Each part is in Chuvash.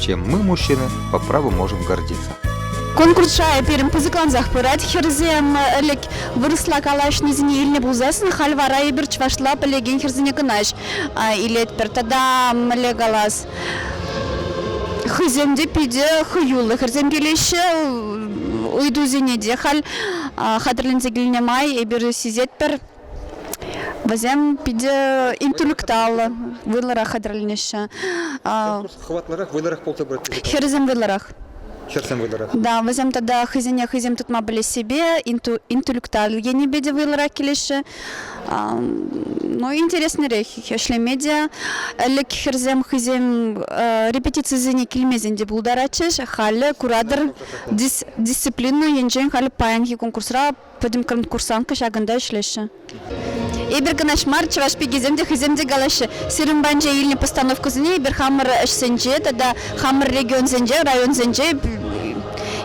чем мы, мужчины, по праву можем гордиться. Конкурса пирӗн пысӑклансах пырать. Хӗрсем ӗлӗк вырӑсла калаҫнисене илнӗ пулсассӑн халь вара эпир чӑвашла пӗлекен хӗрсене кӑна илетпӗр. Тата мӗнле калас? Хӑйсем те питӗ хӑюллӑ хӗрсем килеҫҫӗ. Ыйтусене те халь хатӗрленсе килнӗ май эпир сисетпӗр. Вӗсем питӗ интеллектуаллӑ, вӑйлӑрах хатӗрленеҫҫӗ. Хӑватлӑрах, вӑйлӑрах пулса пыраҫҫӗ. Хӗрсем вӑйлӑрах. Хӗрсем вӑйлӑрах. Да, вӗсем тата хӑйсене хӑйсем тытма пӗлессипе, интеллектуаллӑ енӗпе те вӑйлӑрах килеҫҫӗ. Ну, интереснӗрех ӗҫлеме те. Ӗлӗк хӗрсем хӑйсем репетицисене килмесен те пултаратчӗҫ. Халӗ куратӑр, дисциплина енчен халӗ паянхи конкурсра Пӗтӗм конкурсантка ҫакӑнта ӗҫлеҫҫӗ. Эпир кӑнаҫ мар, чӑваш пикисем те хӑйсем те калаҫҫӗ. Сирӗн патӗнче илнӗ постановкӑсене эпир хамӑр ӗҫсенче тата хамӑр регионсенче, районсенче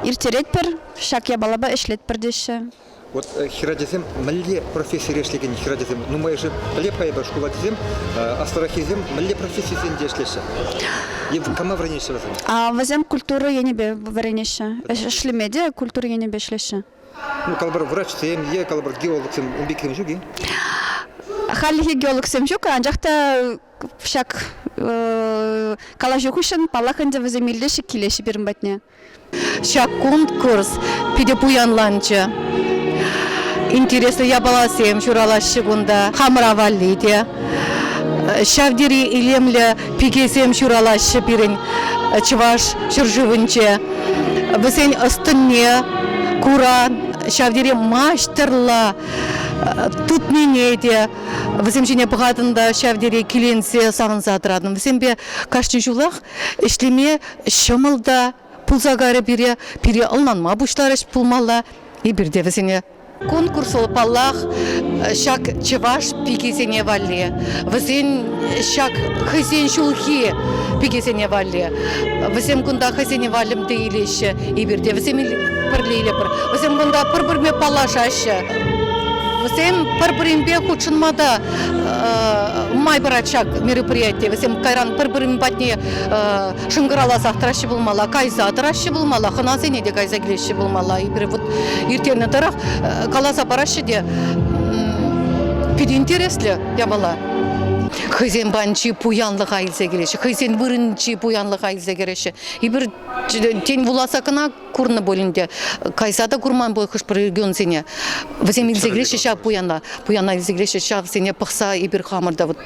ирттеретпӗр, ҫак япалапа ӗҫлетпӗр теҫҫӗ. Вот э, хӗрачасем мӗнле профессире ӗҫлекен хӗрачасем нумайӑшӗ пӗле пӗр шкул ачисем, э, аслӑраххисем мӗнле профессисенче ӗҫлеҫҫӗ? Е кама вӗренеҫҫӗ вӗсем? Вӗсем культура енӗпе вӗренеҫҫӗ. Ӗҫлеме те культура енӗпе ӗҫлеҫҫӗ. калӑпӑр врачсем е калӑпӑр геологсем ун пек ҫук и хальлӗхе геологсем ҫук анчах та ҫак калаҫу хыҫҫӑн паллах ӗнтӗ вӗсем илтеҫҫӗ килеҫҫӗ пирӗн патне ҫак конкурс питӗ пуянланчӗ интереслӗ япаласем ҫуралаҫҫӗ кунта хамӑра валли те ҫав тери илемлӗ Пикесем ҫуралаҫҫӗ пирӗн чӑваш ҫӗршывӗнче. Вӗсен ӑс-тӑнне кура ҫав тери маҫтӑрла тытнине те вӗсем ҫине пӑхатӑн та ҫав тери киленсе савӑнса тӑратӑн. Вӗсемпе кашни ҫулах ӗҫлеме ҫӑмӑл та пулса карӗ пире, пире ӑнланма пуҫларӗҫ пулмалла. Эпир те вӗсене Конкурс, паллах, ҫак чӑваш пикисене валли, вӗсен ҫак хӑйсен ҫулхи пикисене валли. Вӗсем кунта хӑйсене валӗмте илеҫҫӗ, эпир те вӗсем пӗрле илӗпӗр. Вӗсем кунта пӗр-пӗрне паллашаҫҫӗ. Вӗсем пӗр-пӗринпе хутшӑнма та май парать ҫак мероприяти. Вӗсем кайран пӗр-пӗрин патне шӑнкӑравласах тӑраҫҫӗ пулмалла, кайса тӑраҫҫӗ пулмалла, хӑнасене те кайса килеҫҫӗ пулмалла. Эпир вот ирттернӗ тӑрӑх э, каласа параҫҫӗ те питӗ интереслӗ япала. Хӑйсен банчи пуянлӑха илсе килеҫҫӗ, хӑйсен вырӑнчи пуянлӑха илсе кӗреҫҫӗ. Эпир тен вуласа кӑна курнӑ пулин те, кайса та курман пуль хӑш-пӗр регионсене. Вӗсем илсе килеҫҫӗ ҫав пуяна, пуяна илсе килеҫҫӗ, ҫавсене пӑхса эпир хамӑр та вот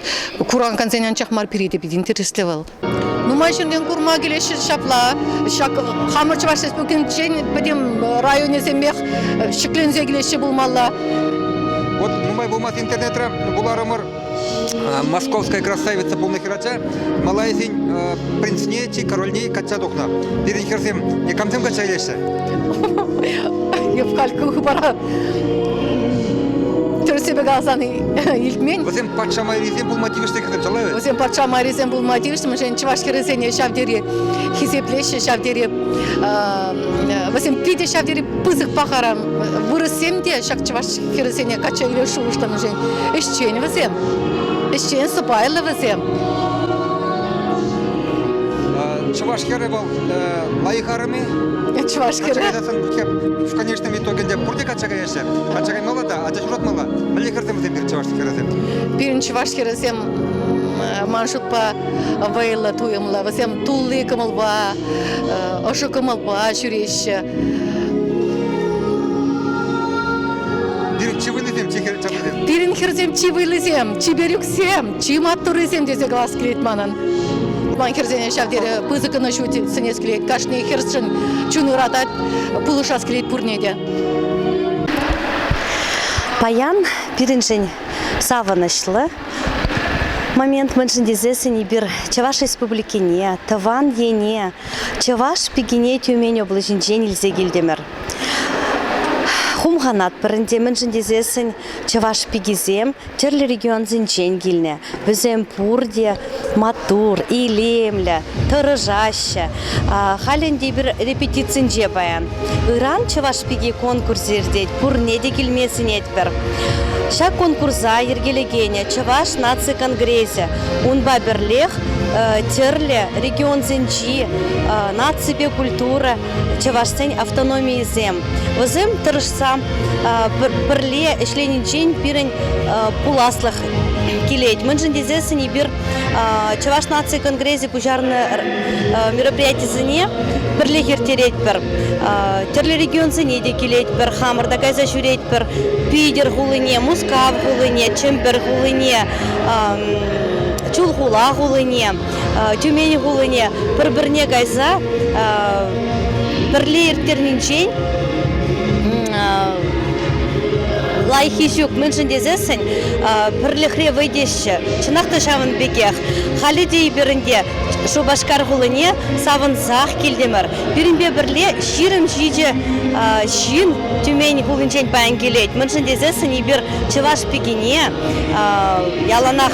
куракансен анчах мар пире те питӗ интереслӗ вӑл. Нумай ҫыннин курма килеҫҫӗ ҫапла. Ҫак хамӑр Чӑваш Республикинчен пӗтӗм районӗсемех ҫӗкленсе килеҫҫӗ пулмалла. Вот нумай пулмасть интернетре вуларӑмӑр Московская красавица пулнӑ хӗрача Малайзин принцне чи корольне качча тухнӑ. Пирӗн хӗрсем никамсем качча илеҫҫӗ? Евкалька хыпара Тӗрӗссипе каласан илтмен. Вӗсем патша майрисем пулма тивӗҫлӗ тӑчаллаҫҫӗ. Вӗсем патша майрисем пулма тивӗҫлӗ, мӗншӗн чӑваш хӗрӗсене ҫав тери хисеплеҫҫӗ, ҫав тери вӗсем питӗ ҫав тери пысӑк пахара. Вырӑссем те ҫак чӑваш хӗрӗсене качча илме шухӑшлӑ, мӗншӗн ӗҫчен вӗсем, ӗҫчен, сӑпайлӑ вӗсем. Чӑваш хӗрӗ вӑл лайӑх арӑмӗ. Чӑваш хӗрӗ. В итогӗнче пурте качча каяҫҫӗ. Качча каймалла та ача ҫуратмалла. Мӗнле хӗрсем вӗсем чӑваш хӗрӗсем? Пирӗн чӑваш хӗрӗсем ман шутпа вӑйлӑ туйӑмлӑ. Вӗсем тулли кӑмӑлпа, ӑшӑ кӑмӑлпа ҫӳреҫҫӗ. Пирӗн чи вӑйлисем, чи хӗрсем? Пирӗн хӗрсем чи вӑйлисем, чипер ӳксем, чи маттуррисем тесе калас килет манӑн. Ман хӗрсене ҫав тери пысӑкӑн ҫуть сӗнес килет. Кашни хӗрсшӗн чун ыратать, пулӑшас килет пурне те. Паян пирӗншӗн савӑнӑҫлӑ момент мӗншӗн тесессӗн эпир Чӑваш Республикине, тӑван ене, Чӑваш пикине Тюмень облаҫӗнчен илсе килтӗмӗр. Хумханатпӑр ӗнтӗ, мӗншӗн тесессӗн чӑваш пикисем тӗрлӗ регионсенчен килнӗ. Вӗсем пурте маттур, илемлӗ, тӑрӑшаҫҫӗ. Халь ӗнтӗ эпир репетицинче паян. Ыран Чӑваш пики конкурсӗ иртет, пурне те килме сӗнетпӗр. Ҫак конкурса йӗркелекенӗ Чӑваш наци конгресӗ. Унпа пӗрлех тӗрлӗ регионсенчи наципе культура чӑвашсен автономийӗсем. Вӗсем тӑрӑшса пӗрле ӗҫленинчен пирӗн пуласлӑх килет. Мӗншӗн тесессӗн эпир Чӑваш наци конгресӗ пуҫарнӑ мероприятисене пӗрлех ирттеретпӗр. Тӗрлӗ регионсене те килетпӗр, хамӑр та кайса ҫӳретпӗр. Питӗр хулине, Мускав хулине, Чӗмпӗр хулине, Чулхула хулине. Тюмени хулине пӗр-пӗрне кайса пӗрле ирттернинчен лайӑххи ҫук мӗншӗн тесессӗн пӗрлӗхре вӑй теҫҫӗ. Чӑнах та ҫавӑн пекех. Халӗ те эпир ӗнтӗ Шупашкар хулине савӑнсах килтӗмӗр. Пирӗнпе пӗрле ҫирӗм ҫичӗ ҫын Тюмень хулинчен паян килет. Мӗншӗн тесессӗн эпир чӑваш пикине яланах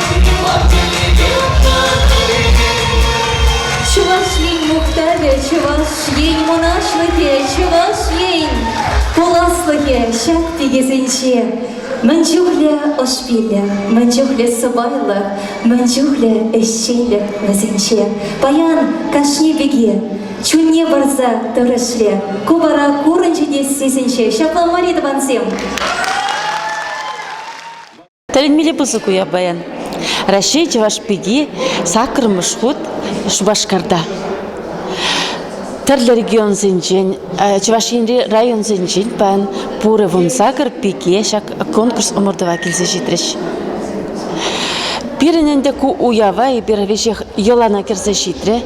Чӑваш Ен мухтавӗ, Чӑваш Ен мӑнаҫлӑхӗ, Чӑваш Ен пуласлӑхӗ ҫак тикӗсенче. Мӗн чухлӗ ӑш пиллӗх, мӗн чухлӗ сӑпайлӑх, мӗн чухлӗ ӗҫченлӗх вӗсенче. Паян кашни пике чунне парса тӑрӑшле. Ку вара курӑнчӗ тесессӗнче ҫапла мар-и, тӑвансем? Тӗлӗнмелле пысӑк уяв паян. Раҫҫей Чӑваш пики саккӑрмӗш хут Шупашкарта. Тӗрлӗ регионсенчен, Чӑваш Енри районсенчен паян пурӗ вунсакӑр пике ҫак конкурс ӑмӑртӑва килсе ҫитрӗҫ. Пирӗн ӗнтӗ ку уява эпир веҫех йӑлана кӗрсе ҫитрӗ.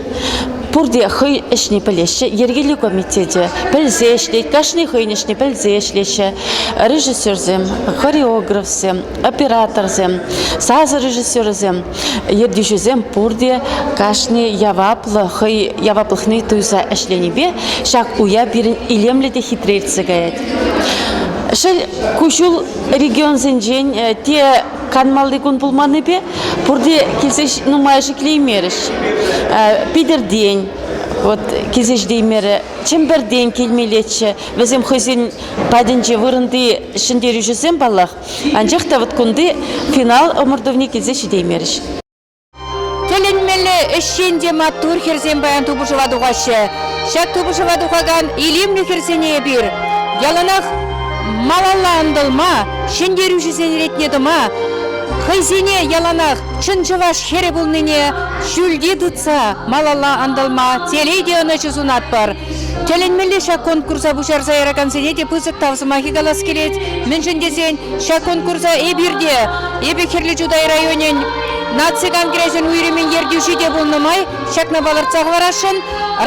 Пурте хӑй ӗҫне пӗлеҫҫӗ, йӗркелӳ комитечӗ пӗлсе ӗҫлет, кашни хӑйӗн ӗҫне пӗлсе ӗҫлеҫҫӗ. Режиссерсем, хореографсем, операторсем, сасӑ режиссерӗсем, ертӳҫӗсем пурте кашни яваплӑ хӑй яваплӑхне туйса ӗҫленипе ҫак уяв пирӗн илемлӗ те хитре иртсе каять. Шел, ку ҫул регионсенчен те канмалли кун пулманнипе пурте килсе нумай шиклеймерӗҫ. Питӗртен вот килсе ҫитеймерӗ. Чӗмпӗртен килмеллеччӗ. Вӗсем хӑйсен патӗнче вырӑнти ҫӗнтерӳҫӗсем паллах. Анчах та вот кунти финал ӑмӑртӑвне килсе ҫитеймерӗҫ. Тӗлӗнмелле ӗҫчен те маттур хӗрсем паян тупӑшӑва тухаҫҫӗ. Ҫак тупӑшӑва тухакан илемлӗ хӗрсене эпир яланах малалла ӑнтӑлма, ҫӗнтерӳҫӗсен ретне тӑма, хӑйсене яланах чӑн чӑваш хӗрӗ пулнине ҫӳлте тытса малалла ӑнтӑлма телей ӑнӑҫу сунатпӑр. Тӗлӗнмелле ҫак конкурса пуҫарса яракансене те пысӑк тав сӑмахӗ калас килет. Мӗншӗн тесен ҫак конкурса эпир те, эпӗ Хӗрлӗ Чутай районӗн Наци конгресӗн уйрӑмӗн ертӳҫи те пулнӑ май ҫакна палӑртса хӑварасшӑн,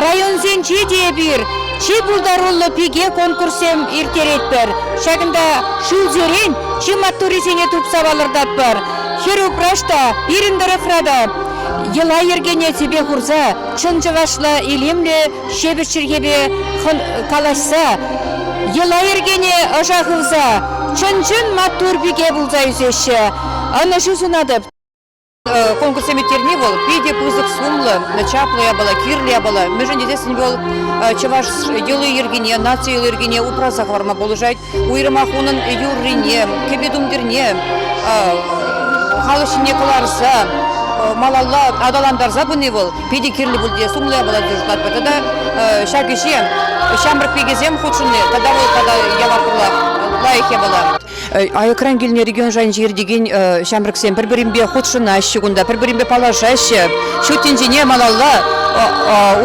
районсенче те эпир чи пултаруллӑ пике конкурссем ирттеретпӗр. Ҫакӑнта ҫулсерен чи маттуррисене тупса палӑртатпӑр. Хӗр-упраҫ та пирӗн тӑрӑхра та йӑла-йӗркене тӗпе хурса чӑн чӑвашла илемлӗ ҫепӗҫ чӗлхепе калаҫса, йӑла-йӗркене ӑша хывса чӑн-чӑн маттур пике пулса ӳсеҫҫӗ. Ӑнӑҫу сунатӑп. Э, конкурсем ирттерни вӑл питӗ пысӑк сумлӑ, чаплӑ япала, кирлӗ япала. Мӗншӗн тесессӗн вӑл э, чӑваш йӑли-йӗркине, наци йӑли-йӗркине упраса хӑварма пулӑшать. уйрӑмах унӑн юррине, кӗпе-тумтирне халӑх ҫине кӑларса малалла аталантарса пыни вӑл питӗ кирлӗ пуль те сумлӑ япала тесе шутлатпӑр. Тата ҫак ӗҫе ҫамрӑк пикесем хутшӑнни тата вӑл тата яваплӑ лайӑх япала. Аякран килнӗ регион шайӗнче иртекен ҫамрӑксем пӗр-пӗринпе хутшӑнаҫҫӗ кунта, пӗр-пӗринпе паллашаҫҫӗ, ҫут тӗнчене малалла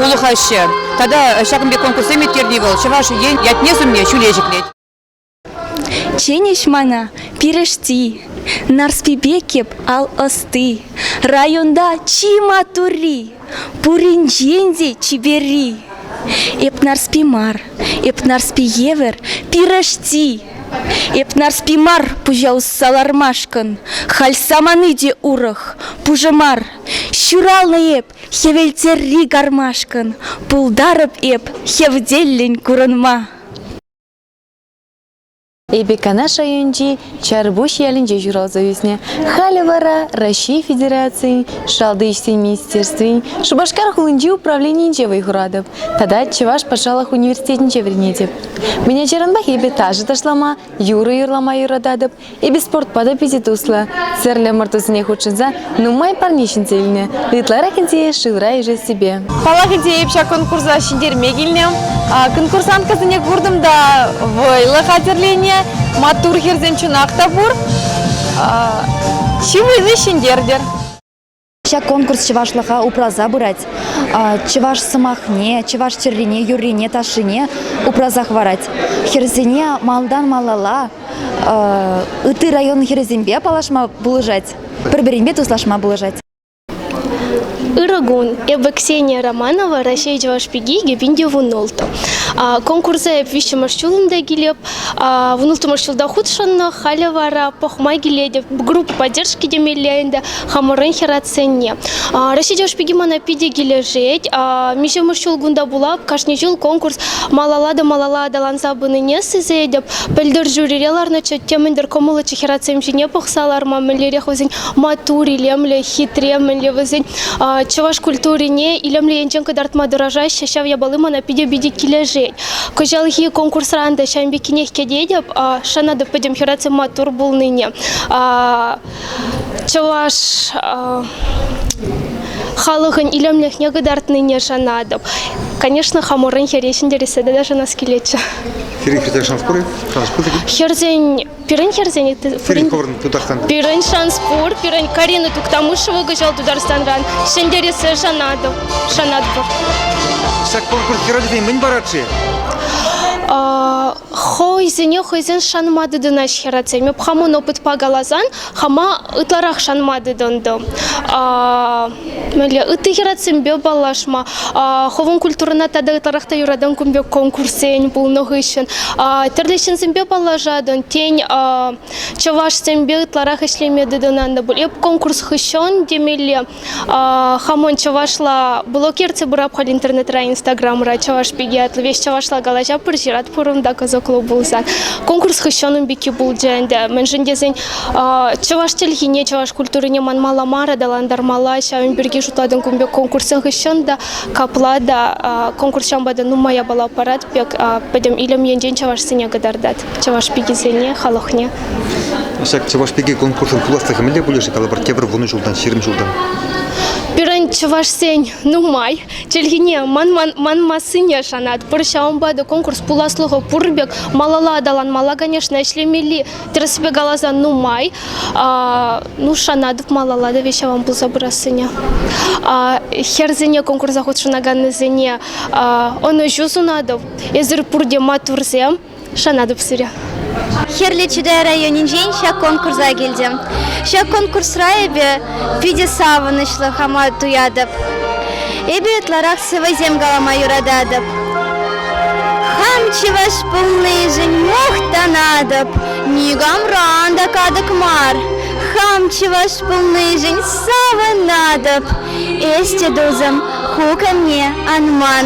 улӑхаҫҫӗ. Тата ҫакӑн пек конкурссем ирттерни вӑл Чӑваш Ен ятне сумне ҫӳле ҫӗклет. Чӗнӗҫ мана пирӗшти, Нарспипе кеп ал ӑсти. Районта чи матурри, пуринчен те чиперри. Эп Нарспи мар, эп Нарспи евӗр пирӗшти. Эп Нарспи мар пуҫа усса лармашкӑн, Халь самани те урӑх, пушӑ мар. Ҫуралнӑ эп Хӗвелттерри кармашкӑн пултарӑп эп хевтеллӗн курӑнма. Эпӗ Канаш районӗнчи Чарпуҫ ялӗнче ҫуралса ӳснӗ. Халӗ вара Раҫҫей Федерацийӗн Шалти ӗҫсен министерствин Шупашкар хулинчи управленийӗнче вӑй хуратӑп тата Чӑваш патшалӑх университетӗнче вӗренетӗп. Мӗн ачаранпах эпӗ ташӑ ташлама, юрӑ юрлама юрататӑп, Эпӗ спортпа та питӗ туслӑ. Сӗрлӗ ӑмӑртусене хутшӑнса нумай парне ҫӗнсе илнӗ, ытларах ӗнтӗ шывра ишессипе. Халахӗнче эп ҫак конкурса ҫӗнтерме килнӗ. Конкурсанткӑсене куртӑм та вӑйлӑ хатӗрленӗ. Маттур хӗрсем чӑнах та пур. Чи вӑйлли ҫӗнтертӗр. Ҫак конкурс чӑвашлӑха упраса пырать. Чӑваш сӑмахне, чӑваш тӗррине, юррине, ташшине упраса хӑварать. Хӗрсене малтан малалла ытти район хӗрӗсемпе паллашма пулӑшать, пӗр-пӗринпе туслашма пулӑшать. Ырӑкун. Эпӗ Ксения Романова, Раҫҫей Чӑваш пики Гепиндиевун Нолт. Конкурса эп виҫҫӗмӗш ҫул ӗнтӗ килеп. Вунӑлттӑмӗш ҫулта хутшӑннӑ, халӗ вара пӑхма килетӗп. Группа поддержки темелле ӗнтӗ хамӑрӑн хӗратсенне. Раҫҫей Тӗшпики мана питӗ килӗшет. Миҫемӗш ҫул кунта пула кашни ҫул конкурс малалла та малалла аталанса пынине сисетӗп. Пӗлтӗр жюрире ларнӑччӗ, темӗнтер кӑмӑллӑччӗ хӗратсем ҫине пӑхса ларма. Мӗнлерех вӗсен маттур, илемлӗ, хитре, мӗнле вӗсен чӑваш культурине илемлӗ енчен кӑтартма тӑрӑшаҫҫӗ. Ҫав япали мана питӗ-питӗ килӗшет. Кӑҫалхи конкурсран та ҫавӑн пеккинех кӗтетӗп. Шанатӑп пӗтӗм хӗрарсем маттур пулнине. Чӑваш халӑхӑн илемлӗхне кӑтартнине шанатӑп. Конечно, хамӑрӑн хӗре ҫӗнтерсе тата шанас килетчӗ. Хӗрӗн хӗрсем шанас пур-и? Шанас пур-и? Хӗрсен Пирӗн хӗрсен Сингапурӑн Тутарстан. Пирӗн Шанспур, пирӗн Карина Туктамышева кӑҫал Тутарстанран. Ҫӗнтерессе шанатӑп, шанатпӑр. Ҫак конкурс хӗрачасен мӗн парать-ши? хӑйсене хӑйсен шанма тытӑнаҫ хӗрачсем. Эп хамӑн опытпа каласан, хама ытларах шанма тытӑнтӑм. Мӗнле ытти хӗрачсемпе паллашма, хӑвӑн культурӑна тата ытларах та юратан кун пек конкурссен пулнӑ хыҫҫӑн тӗрлӗ ҫынсемпе паллашатӑн, тен, чӑвашсемпе ытларах ӗҫлеме тытӑнатӑн пуль. Эп конкурс хыҫҫӑн темелле Хамон чӑвашла блокерте бурапхал интернетра инстаграмра чӑваш пики ятлӑ веҫ чӑвашла калаҫа пыр ҫырат пурӑнта козокло пулсан конкурс хыҫҫӑнӑн пики пулчӗ ӗнтӗ мӗншӗн тесен чӑваш чӗлхине чӑваш культурине манмалла мар аталантармалла ҫавӑн пирки шутлатӑн кун пек конкурсӑн хыҫҫӑн та капла та конкурс ҫампа та нумай япала парать пек пӗтӗм илем енчен чӑвашсене кӑтартать. чӑваш пикисене, халӑхне. Ҫак чӑваш пики конкурсӑн пуласлӑхӗ мӗнле пулӗ-ши? Калӑпӑр, тепӗр вунӑ ҫултан, ҫирӗм ҫултан. Пирӗн чӑвашсен нумай чӗлхине манмассине шанатпӑр. Ҫавӑнпа та конкурс пуласлӑхӗ пур пек малалла аталанмалла, конечно, ӗҫлемелли тӗрӗспе каласан нумай. Ну, шанатӑп малалла та ҫаван пулса пырассине. Хӗрсене конкурса хутшӑнаканнисене ӑнӑҫу сунатӑп. Эсир пурте маттурсем. Шанатӑп сире. Хӗрлӗ Чутай районӗнчен ҫак конкурса килтӗм. Ҫак конкурсра эпӗ питӗ савӑнӑҫлӑ хама туятӑп. Эпӗ ытларах сӑвӑсем калама юрататӑп. Хам чӑваш пулнишӗн мухтанатӑп. Никамран та катӑк мар. Хам чӑваш пулнишӗн савӑнатӑп. Эсте, тусӑм, ку камне ан ман.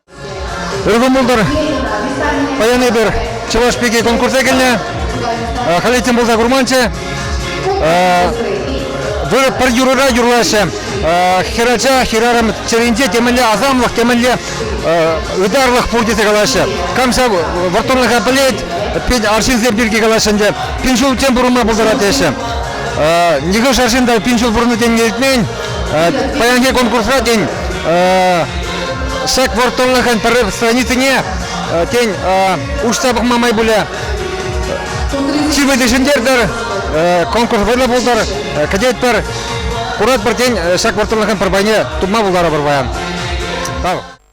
Ыр кӑмӑлтӑр, паян эпир Чӑваш пики конкурса килнӗ. Халь этем пулса курманччӗ. Вырӑ пӗр юрӑра юрлаҫҫӗ. Хӗрача хӗрарӑм чӗринче темӗнле асамлӑх, темӗнле ытарлӑх пур тесе калаҫҫӗ. Кам ҫав вӑрттӑнлӑха пӗлет, пин арҫынсем пирки калаҫҫӗ ӗнтӗ. Пин ҫул тем пурӑнма пултарать теҫҫӗ. Нихӑш арҫын та пин ҫул пурӑннӑ тенине илтмен. Паянхи конкурсра, тен, сак вӑрттӑнлӑхӑн пӗр страницине, тен, уҫса пӑхма май пулӗ. Сивӗте ҫӗнтертӗр, конкурс вӑйлӑ пултӑр, кӗтетпӗр. Куратпӑр, тен, ҫак вӑрттӑнлӑхӑн пӗр пайне тупма пултарӑпӑр паян. Тав.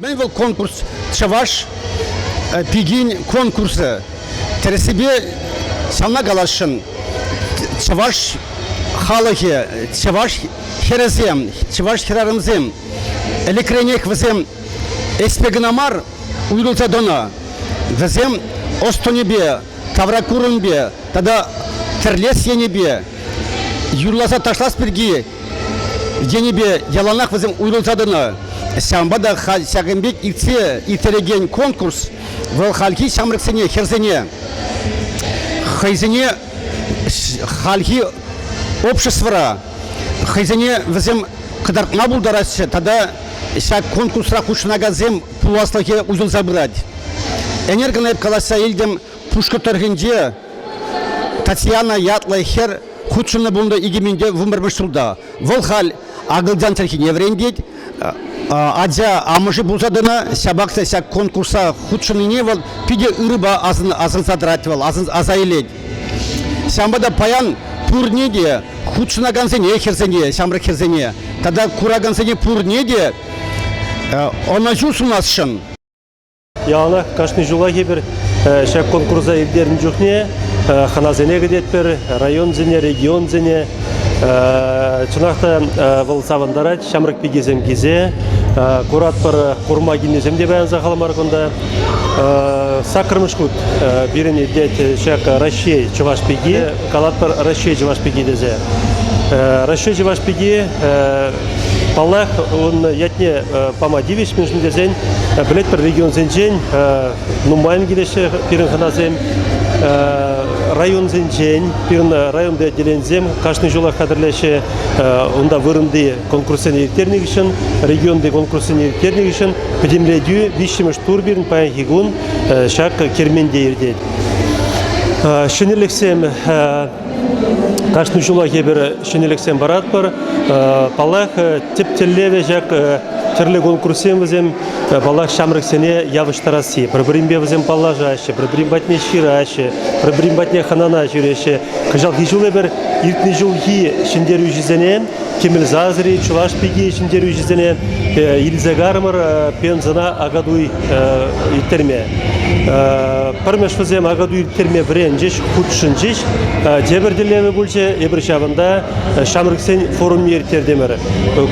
Мӗн вӑл конкурс Чӑваш э, пикин конкурсӗ? Тӗрӗссипе ҫавна каласшӑн. Чӑваш халӑхӗ, чӑваш хӗрӗсем, чӑваш хӗрарӑмсем ӗлӗкренех вӗсем ӗҫпе кӑна мар уйрӑлса тӑнӑ. Вӗсем ӑс-тӑнӗпе, ҫавракурӑмпе тата тӗрлес енӗпе юрласа ташлас пирки енӗпе яланах вӗсем уйрӑлса тӑнӑ. Ҫавӑнпа та халь ҫакӑн пек иртсе ирттерекен конкурс вӑл хальхи ҫамрӑксене, хӗрсене хӑйсене хальхи обществӑра хӑйсене вӗсем кӑтартма пултараҫҫӗ тата ҫак конкурсра хутшӑнакансем пуласлӑхӗ уҫӑлса пырать. Ӗнер калаҫса илтӗм Пушкӑрт тӑрӑхӗнче Татьяна ятлӑ хӗр хутшӑннӑ пулнӑ икӗ минте вунпӗрмӗш ҫулта. Вӑл халь акӑлчан чӗлхине вӗрентет. Ача амӑшӗ пулса тӑнӑ, ҫапах та ҫак конкурса хутшӑннине вӑл питӗ ырӑпа асӑнса тӑрать вӑл, аса илет. Ҫавӑнпа та паян пурне те, хутшӑнакансене хӗрсене, ҫамрӑк хӗрсене тата куракансене пурне те Ӑнӑҫу сунасшӑн. Яланах кашни ҫулах эпир ҫак конкурса ирттернӗ чухне хӑнасене кӗтетпӗр, районсене, регионсене. Чӑнах та вӑл савӑнтарать, ҫамрӑк пикесем килсе. Куратпӑр, курма килнисем те паян сахал мар кунта. Саккӑрмӗш хут пирӗн иртет ҫак Раҫҫей чӑваш пики. калатпӑр Раҫҫей Чӑваш пики тесе. Раҫҫей Чӑваш пики паллах ун ятне пама тивӗҫ, мӗншӗн тесен пӗлетпӗр регионсенчен нумайӑн килеҫҫӗ пирӗн хӑнасем районсенчен, пирӗн районти отделенисем кашни ҫулах хатӗрлеҫҫӗ. Унта вырӑнти конкурссене ирттернӗ хыҫҫӑн, регионти конкурссене ирттернӗ хыҫҫӑн пӗтӗмлетӳ виҫҫӗмӗш тур пирӗн паянхи кун ҫак керменте иртет. Ҫӗнӗлӗхсем кашни ҫулах эпир ҫӗнӗлӗхсем паратпӑр. Паллах, тӗп тӗллевӗ ҫак тӗрлӗ конкурссем вӗсем паллах ҫамрӑксене явӑҫтарасси. Пӗр-пӗринпе вӗсем паллашаҫҫӗ, пӗр-пӗрин патне ҫыраҫҫӗ, пӗр-пӗрин патне хӑнана ҫӳреҫҫӗ. Кӑҫалхи ҫул эпир иртнӗ ҫулхи ҫӗнтерӳҫӗсене Кемел Зазри Чӑваш пики ҫӗнтерӳҫӗсене илсе карӑмӑр пенсӑна акатуй ирттерме. Пӗрмеш вӗсем акатуй ирттерме вӗренчӗҫ, хутшӑнчӗҫ. Тепӗр тӗллевӗ пулчӗ, эпир ҫавӑнта ҫамрӑксен форумне ирттертӗмӗр.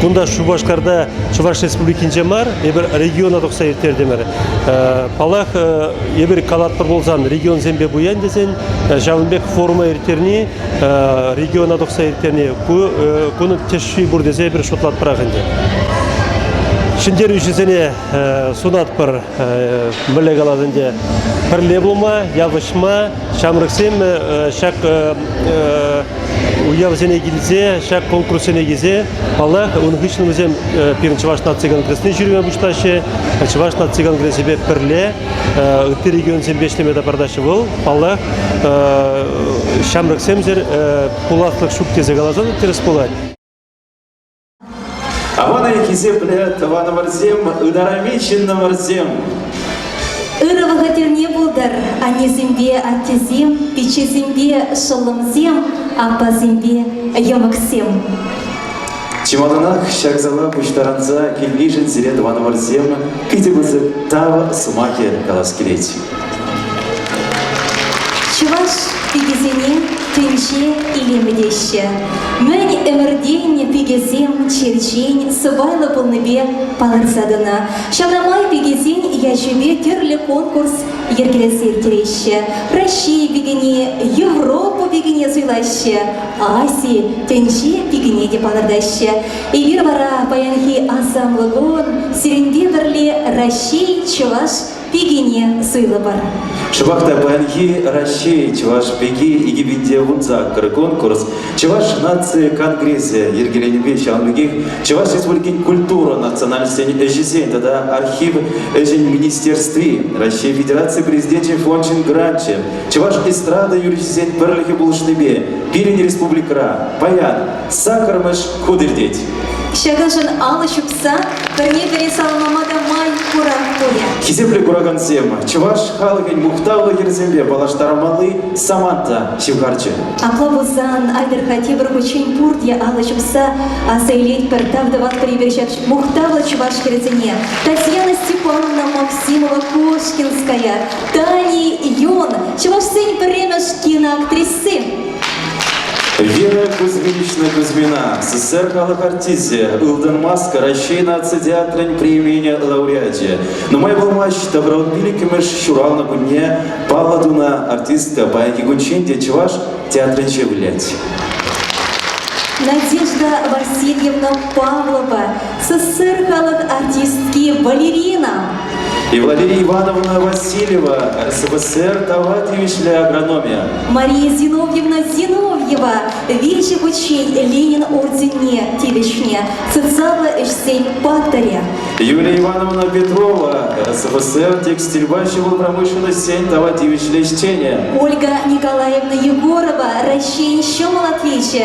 Кунта Шупашкарта Чӑваш Республикинче мар, эпир региона тухса ирттертӗмӗр. Паллах, эпир калатпӑр пулсан регионсемпе пуян тесен ҫавӑн пек форума ирттерни региона тухса ирттерни кунӑн тӗшши пур тесе эпир шутлатпӑрах ӗнтӗ. Ҫӗнтерӳҫӗсене сунатпӑр мӗнле калас ӗнтӗ пӗрле пулма, явӑҫма, ҫамрӑксем ҫак уявсене килсе, ҫак конкурссене килсе, паллах, ун хыҫҫӑн вӗсем пирӗн Чӑваш наци конгресне ҫӳреме пуҫлаҫҫӗ. Чӑваш наци конгресӗпе пӗрле ытти регионсемпе ӗҫлеме тапартаҫҫӗ. Вӑл, паллах, ҫамрӑксемсӗр пуласлӑх ҫук тесе каласан тӗрӗс пулать. Аванай хисеплӗ тӑванӑмӑрсем, ытарами ҫыннӑмӑрсем! Ырӑ вӑхӑтӗрне пултӑр, аннесемпе аттесем, пиччесемпе шӑллӑмсем, аппасемпе йӑмӑксем! Чи малтанах ҫак зала пуҫтарӑнса килнишӗн сире тӑванӑмӑрсем питӗ пысӑк тав сӑмахӗ калас килет. Чӑваш пикисене тӗнче илемӗ теҫҫӗ. Мӗн ӗмӗртен пикесем черчен сӑпайлӑ пулнипе палӑрса тӑнӑ. Ҫавна май пикесен ячӗпе тӗрлӗ конкурс йӗркелесе ирттереҫҫӗ. Раҫҫей пикине, Европа пикине суйлаҫҫӗ, Аси, тӗнче пикине те палӑртаҫҫӗ. Эпир вара паянхи ансамбль кун сирӗнпе пӗрле Раҫҫей чӑваш пикине суйлӑпӑр. Шӑпах та паянхи Раҫҫей чӑваш пики 2000 саккӑр конкурс Чӑваш наци конгресӗ йӗркеленипе ҫавӑн пекех Чӑваш Республикин культура национальноҫсен ӗҫӗсен тата архив ӗҫӗн министерстви Раҫҫей Федераци Президенчӗн фончӗн гранчӗ Чӑваш эстрада юрӑҫисен пӗрлӗхӗ пулӑшнипе пирӗн республикӑра паян сакӑрмӗш хут иртет. Ҫакӑншӑн алӑ ҫупса пӗрне-пӗри саламлама та май пурах пулӗ. Хисеплӗ куракансем, чӑваш халӑхӗн мухтавлӑ хӗрӗсемпе паллаштармалли самант та ҫывхарчӗ. Апла пулсан, Альберта тепӗр хутчен пурте алӑ ҫупса аса илетпӗр тав тӑватпӑр эпир ҫак мухтавлӑ чӑваш хӗрӗсене. Татьяна Степановна Максимова Кошкинская, Тани Юн, чӑвашсен пӗрремӗш киноактриси. Вера Кузьминична Кузьмина, СССР халӑх артисчӗ, Ылтӑн маска Раҫҫей наци театрӗн премийне лауреачӗ. Нумай пулмасть добровольпилӗкӗмӗш ҫуралнӑ кунне паллӑ тунӑ артистка паянхи кунччен те чӑваш театрӗнче вылять. Надежда Васильевна Павлова СССР халӑх артистки балерина и Валерия Ивановна Васильева, СВСР тава тивӗҫлӗ агрономия. Мария Зиновьевна Зиновьева виҫӗ хутчен Ленин орденне тивӗҫнӗ социаллӑ ӗҫсен паттӑрӗ. Юлия Ивановна Петрова, СВСР текстильпа ҫӑмӑл промышленноҫсен тава тивӗҫлӗ ӗҫченӗ. Ольга Николаевна Егорова, Раҫҫейӗн ҫӑмӑл атлечӗ,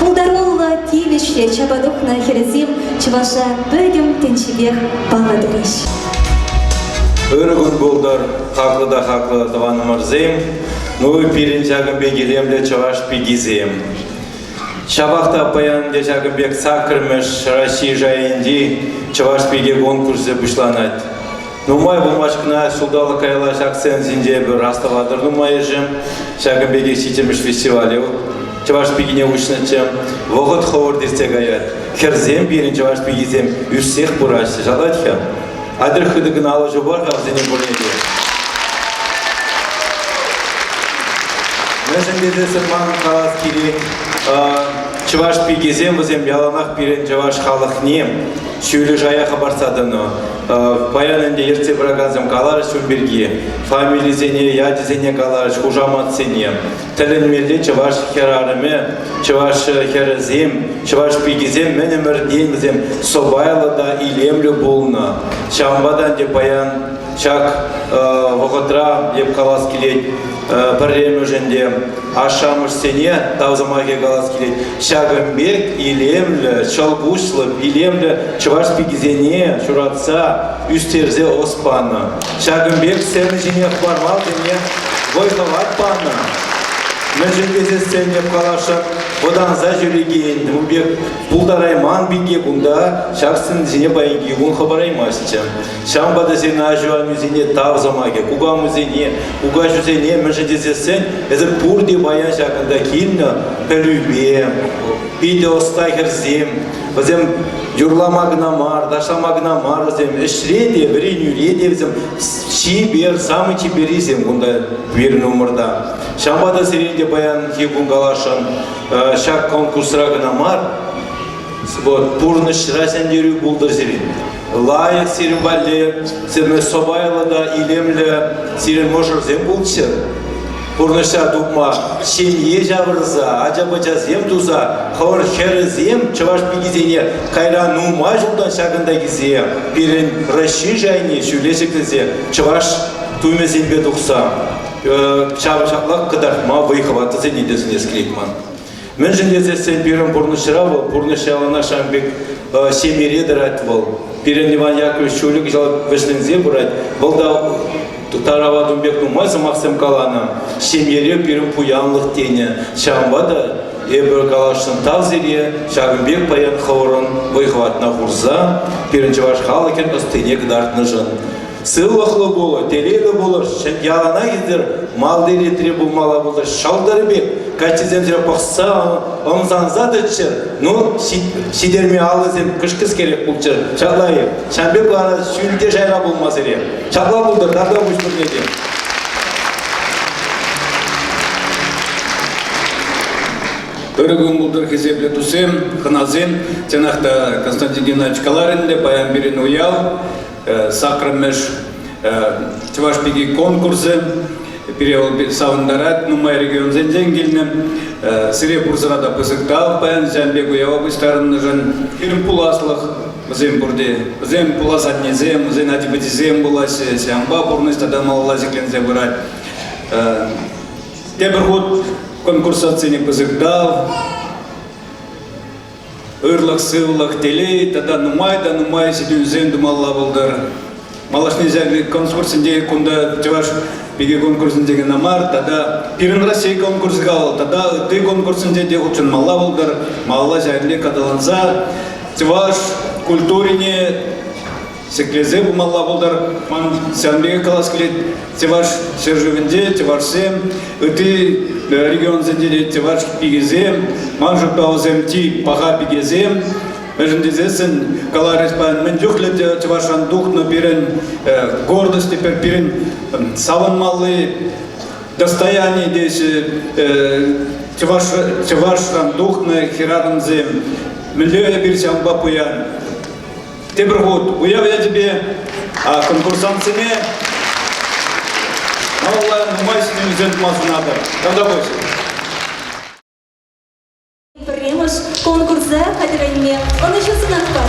Пултаруллӑ, тивӗҫлӗ чапа тухнӑ хӗрсем чӑваша пӗтӗм тӗнчипех паллатрӗҫ. Ырӑ кун пултӑр, хаклӑ та хаклӑ тӑванӑмӑрсем, ну пирӗн ҫакӑн пек илемлӗ чӑваш пикисем. Ҫапах та паян те ҫакӑн пек саккӑрмӗш Раҫҫей шайӗнчи чӑваш пики конкурсӗ пуҫланать. Нумай вырмачкӑна ҫулталӑк каялла ҫак сценӑсенче эпир астӑватӑр нумайӑшӗ. Ҫакӑн пекех ҫиччӗмӗш фестивале чӑваш пикине уҫнӑччӗ. Вӑхӑт хӑвӑрт иртсе каять. Хӗрсем пирӗн чӑваш пикисем ӳссех пыраҫҫӗ. Шалать-ха. Атьӑр хытӑ кӑна алӑҫу пар-ха вӗсене пурне те. Мӗншӗн тесессӗн манӑн калас килет, чӑваш пикисем вӗсем яланах пирӗн чӑваш халӑхне ҫӳллӗ шая хӑпартса тӑнӑ. Паян ӗнтӗ ертсе пыракансем каларӗҫ ун пирки, фамилисене, ячӗсене каларӗҫ, хушаматсене. Тӗлӗнмелле чӑваш хӗрарӑмӗ, чӑваш хӗрӗсем, чӑваш пикисем мӗн ӗмӗртен вӗсем сӑпайлӑ та илемлӗ пулнӑ. Ҫавӑнпа та ӗнтӗ паян ҫак вӑхӑтра, эп калас килет, пӗрремӗшӗн те ашшӗ-амӑшсене тав сӑмахӗ калас килет. Ҫакӑн пек илемлӗ, ҫӑлкуҫлӑ, илемлӗ чӑваш пикисене ҫуратса, ӳстерсе ӑс панӑ. Ҫакӑн пек сцена ҫине хӑвармалсене вӑй-хӑват панӑ. Мӗншӗн тесе сценне каласшӑн, вӑтанса ҫӳрекен, ун пек пултарайман пике кунта ҫак сцена ҫине паянхи кун хӑпараймастчӗ. Ҫавӑнпа та сирӗн аҫу-амисене тав сӑмахӗ, кукамусене, кукаҫусене мӗншӗн тесессен эсир пурте паян ҫакӑнта килнӗ пӗлӳпе, питӗ ӑста хӗрсем, вӗсем юрлама кӑна мар, ташлама кӑна мар вӗсем, ӗҫре те, вӗренӳре те вӗсем чипер, самый чиперисем кунта пирӗн умӑрта. Ҫавӑнпа та сирӗн те паянхи кун каласшӑн ҫак конкурсра кӑна мар, вот, пурнӑҫра ҫӗнтерӳ пултӑр сирӗн. лайӑх сирӗн валли сирӗн сӑпайлӑ та илемлӗ сирӗн мӑшӑрсем пулччӑр. Пурнӑҫа тупма ҫемье ҫавӑрса, ача-пӑчасем туса хӑвӑн хӗрӗсем чӑваш пикисене кайран нумай ҫултан ҫакӑнтакисем пирӗн Раҫҫей шайне ҫӳле ҫӗклесе чӑваш тумӗсемпе тухса ҫавӑн ҫаплах кӑтартма вӑй-хӑват тӗсене те сӗнес килет ман. Мӗншӗн тесессӗн пирӗн пурнӑҫра вӑл пурнӑҫ яланах ҫавӑн пек э, ҫемьере тӑрать вӑл. Пирӗн Иван Яковлевич ҫулӗ кӑҫал вӗҫленсе пырать. Вӑл та тарава тум пек нумай сӑмахсем каланӑ. Ҫемьере пирӗн пуянлӑх тенӗ. Ҫавӑнпа та эпир каласшӑн тав сире ҫакӑн пек паян хӑвӑрӑн вӑй-хӑватна хурса пирӗн чӑваш халӑхӗн ӑстине кӑтартнӑшӑн. Сывлӑхлӑ пулӑр, телейлӗ пулӑр, ялана йӗтӗр, малти ретре пулмалла пултӑр, ҫӑлтӑр пек, каччисемсене пӑхса, ӑмсанса тӑччӑр, ну, ҫитерме аллисем кӑшкӑскерех пулччӑр, ҫапла-и? Ҫавӑн пек вара ҫӳл те шайра пулма сире. Ҫапла пултӑр, тарта пуҫ пурне те. Ырӑ кун пултӑр хисеплӗ туссем, хӑнасем. Чӑнах та Константин Геннадьевич каларӗн те, паян пирӗн уяв. саккӑрмӗш Чӑваш пики конкурсӗ пире вӑл савӑнтарать нумай регионсенчен килнӗ. Сире пурсӑра та пысӑк тав паян ҫавӑн пек уява пуҫтарӑннӑшӑн. Пирӗн пуласлӑх вӗсем пурте. Вӗсем пулас аннесем, вӗсен ачи-пӑчисем пулаҫҫӗ. Ҫавӑнпа пурнӑҫ тата малалла ҫӗкленсе пырать. Тепӗр хут конкурсантсене пысӑк тав. ырлӑх-сывлӑх, телей тата нумай та нумай ҫитӗнӳсем тумалла пултӑр. Малашне ҫак конкурсӗнче кунта чӑваш пики конкурсӗнче кӑна мар, тата пирӗн Россия конкурсӗ кал тата ытти конкурсӗнче те хутшӑнмалла пултӑр, малалла ҫакне аталанса чӑваш культурине ҫӗклесе пымалла пултар. Ман сан пекех калас килет, Теваш ҫӗршывӗнче тевашсем, ытти регионсенче те теваш пикесем, ман шутпа вӗсем чи паха пикесем. Мӗншӗн тесессӗн каларӗҫ паян мӗн чухлӗ чӑвашран тухнӑ пирӗн гордость теперь пирӗн савӑнмалли достояние теҫҫӗ чӑваш чӑвашран тухнӑ хӗрарӑмсем. Мӗнле эпир ҫавӑнпа пуян? тепӗр хут уяв ячӗпе конкурсантсене малалла нумай ҫӗнӗлӗхсем тума сунатӑп. Тавта пуҫ. Пӗрремӗш конкурса хатӗрленме ӑнӑҫу сунатпӑр.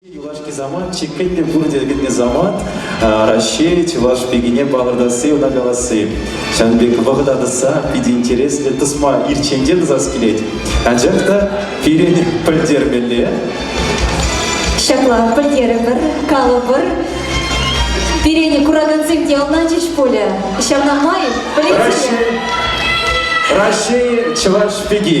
Юлашки самант чиккен те пур текенни самант Раҫҫей чӑваш пикине палӑртасси, ӑна каласси. Ҫавӑн пек вӑхӑта тӑсса питӗ интереслӗ тӑсма ирччен тӑсас килет. Анчах та пирӗн пӗлтермелле. Ҫапла, пӗлтерӗпӗр, калӑпӑр. Пире куракансем те ӑнланчӗҫ пулӗ. Ҫавна май пӗлетсене. Раҫҫей, Раҫҫей чӑваш пики.